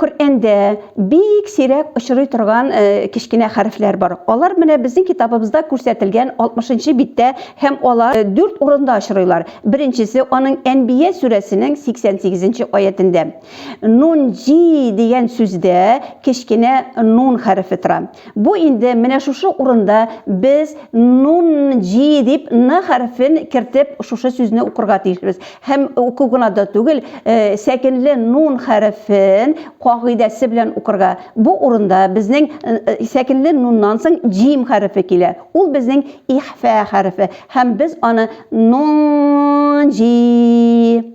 Коръәндә бик сирәк очрый торган э, кечкенә хәрефләр бар. Алар менә безнең китабыбызда күрсәтелгән 60 биттә һәм алар э, дүрт урында очрыйлар. Беренчесе аның Әнбия сүрәсенең 88 аятендә. Нун җи дигән сүздә кечкенә нун хәрефе тора. Бу инде менә шушы урында без нун җи дип н хәрефен кертеп шушы сүзне укырга тиешбез. Һәм уку гына да түгел, сәкенле нун хәрефен кагыйдәсе белән укырга. Бу урында безнең сәкенле нуннан соң җим хәрефе килә. Ул безнең ихфә хәрефе. Һәм без аны нун җи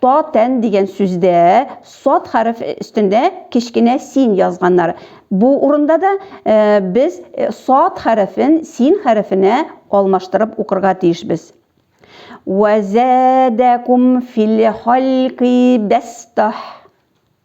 Та тән дигән сүздә сад хәреф өстендә кечкенә син язганнар. Бу урында да без сад хәрефен син хәрефенә алмаштырып укырга тиешбез. Вә зәдәкум фил халки бәстәһ.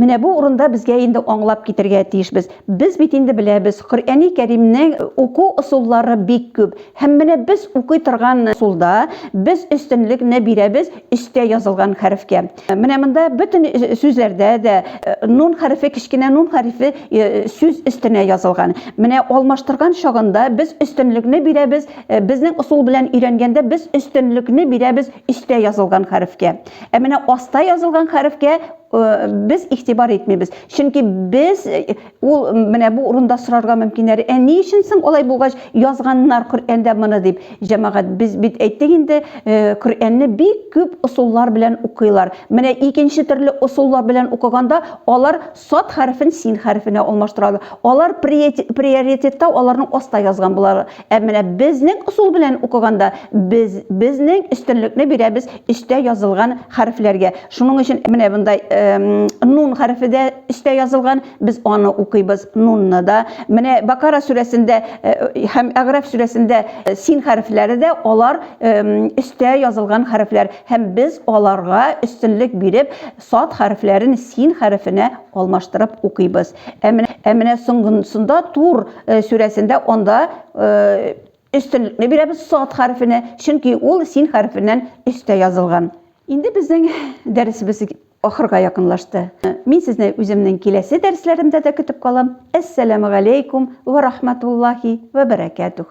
Менә бу урында безгә инде аңлап китергә тиешбез. Без бит инде беләбез, Коръәни Кәримнең уку ысуллары бик күп. Һәм менә без укый торган ысулда без өстенлекне бирәбез өстә язылган хәрефкә. Менә монда бөтен сүзләрдә дә нун хәрефе, кечкенә нун хәрефе сүз өстенә язылган. Менә алмаштырган чагында без өстенлекне бирәбез, безнең ысул белән өйрәнгәндә без өстенлекне бирәбез өстә язылган хәрефкә. Ә менә аста язылган хәрефкә без игътибар итмибез. Чөнки без ул менә бу урында сорарга мөмкин әле. Ә ни өчен соң алай булгач язганнар Коръәндә моны дип? Җәмәгать, без бит әйттек инде, Коръәнне бик күп ысуллар белән укыйлар. Менә икенче төрле ысуллар белән укыганда алар Сад хәрефен син хәрефенә алмаштыралар. Алар приоритетта аларның аста язган булалар. Ә менә безнең ысул белән укыганда, без безнең өстенлекне бирәбез өстә язылган хәрефләргә. Шуның өчен менә мондай нун хәрефе дә өстә язылган, без аны укыйбыз, нунны да. Менә Бакара сүрәсендә һәм Әгъраф сүрәсендә син хәрефләре дә алар өстә язылган хәрефләр һәм без аларга өстенлек биреп Сад хәрефләрен син хәрефенә алмаштырып укыйбыз. Ә менә, ә менә соңгысында Тур сүрәсендә анда өстенлекне бирәбез сад хәрефенә, чөнки ул син хәрефеннән өстә язылган. Инде безнең дәресебез ахырга якынлашты. Мин сезне үземнең киләсе дәресләремдә дә көтеп калам. Әссәламү галәйкүм вә рахмәтуллаһи вә бәрәкәтүх.